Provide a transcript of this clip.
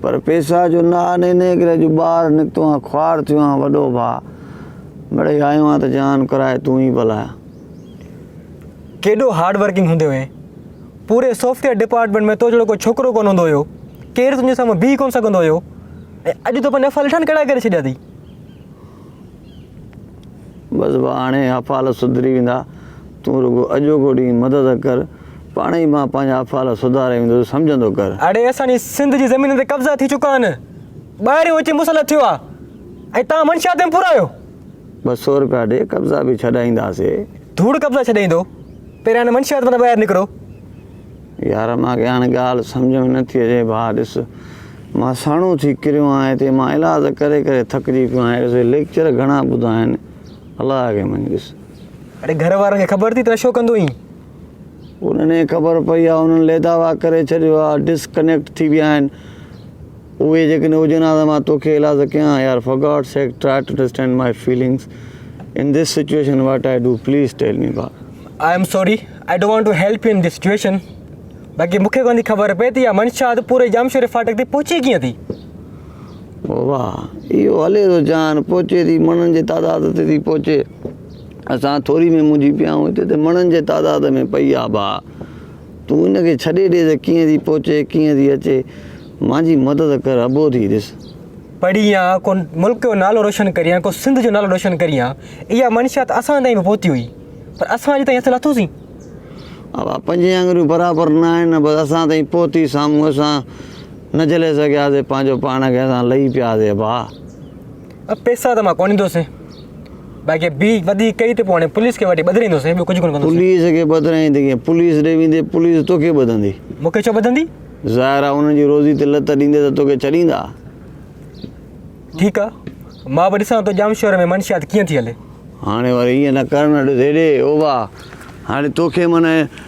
پر پيسا جو نه آ نين نين ڪري جو ٻار نڪتو آن خوار ٿيو آن وڏو ڀاء مڙئي آيو آن ته جان ڪرائي تون ئي بلايا. ڪيڏو هارڊ ورڪنگ هوندي هئين پوري سوفٽويئر ڊپارٽمينٽ ۾ تو جهڙو ڪو ڇوڪرو ڪونه هوندو هيو ڪير تنهنجي سامهون بيهي ڪونه سگهندو هيو ۽ اڄ تو پنهنجا ڦل ٺانڪڙا ڪري ڇڏيا اٿئي. بس بس هاڻي حفال سڌري ويندا، تون رڳو اڄوڪو ڏينهن مدد ڪر، پاڻ ئي مان پنهنجا حفال سڌاري ويندس، سمجهندو ڪر. اڙي اسان جي سنڌ جي زمينن تي قبضا ٿي چڪا آهن، ٻاهريون اچي مسلط ٿيو آهي ۽ توهان منشيات ۾ پورا آهيو. ٻه سؤ روپيا ڏي، قبضا به ڇڏائينداسي. ڌوڙ قبضا ڇڏائيندو، پهريان هن منشيات مان ته ٻاهر نڪرو. يار مان کي هاڻي ڳالهه سمجهه ۾ نٿي اچي ڀاء ڏس مان سهڻو ٿي ڪريو آهيان هتي مان علاج ڪري ڪري ٿڪجي پيو آهيان ڏس ليڪچر گهڻا ٻڌا آهن الله کي مڃ ڏس اڙي گهر وارن کي خبر ٿي ته نشو ڪندو آهين انهن کي خبر پئي آهي انهن ليداوا ڪري ڇڏيو آهي ڊسڪنيڪٽ ٿي ويا آهن اهي جيڪڏهن هجن ها ته مان توکي ايلاز ڪيان ها يار for God sake try to understand my feelings in this situation what I do please tell me با. I am sorry I don't want to help you in this situation باقي مون کي ڪونه ٿي خبر پئي ته اها منشا اڌ پوري ڄامشوري ڦاٽڪ تائين پهچي ڪيئن ٿي. واهه اهو هلي ٿو جان پهچي ٿي مڻن جي تعداد تي ٿي پهچي اسان ٿوري ۾ منجهي پيا آهيون هتي ته مڻن جي تعداد ۾ پئي آهه با. تون ان کي ڇڏي ڏي ته ڪيئن ٿي پهچي، ڪيئن ٿي اچي. مانجي مدد ڪر، اڀو ٿي ڏس. پڙهين يا ڪو ملڪ جو نالو روشن ڪرين، ڪو سنڌ جو نالو روشن ڪرين. اها منشيات اسان تائين به پهتي هئي، پر اسان اڄ تائين حاصل اٿو سين. اها پنجين آڱريون برابر نه آهن، بس اسان تائين پهتي، سامهون اسان نه جهلي سگهياسين، پنهنجو پاڻ کي اسان لهي پياسين. اڀا! پئسا ته مان ڪونه ڏيندوسين، باقي ٻي وڌيڪ ڪئي ته پوء هاڻي پوليس کي وٺي ٻڌرائيندوسين، ٻيو ڪجهه ڪونه ڪندوسين. پوليس کي ٻڌرائيندين ڪئين؟ پوليس ڏي ويندين، پوليس توکي ٻڌندي. مون کي ڇو ٻڌندي؟ ظاهر آهي انهن جي روزي تي لت ڏيندين ته توکي ڇڏيندا. ٺيڪ آهي، مان به ڏسان ٿو ڄام شهر ۾ منشيات ڪيئن ٿي هلي. هاڻي وري ائين نه ڪر نه، ڏس هيڏي اوڀا، هاڻي توکي معنيٰ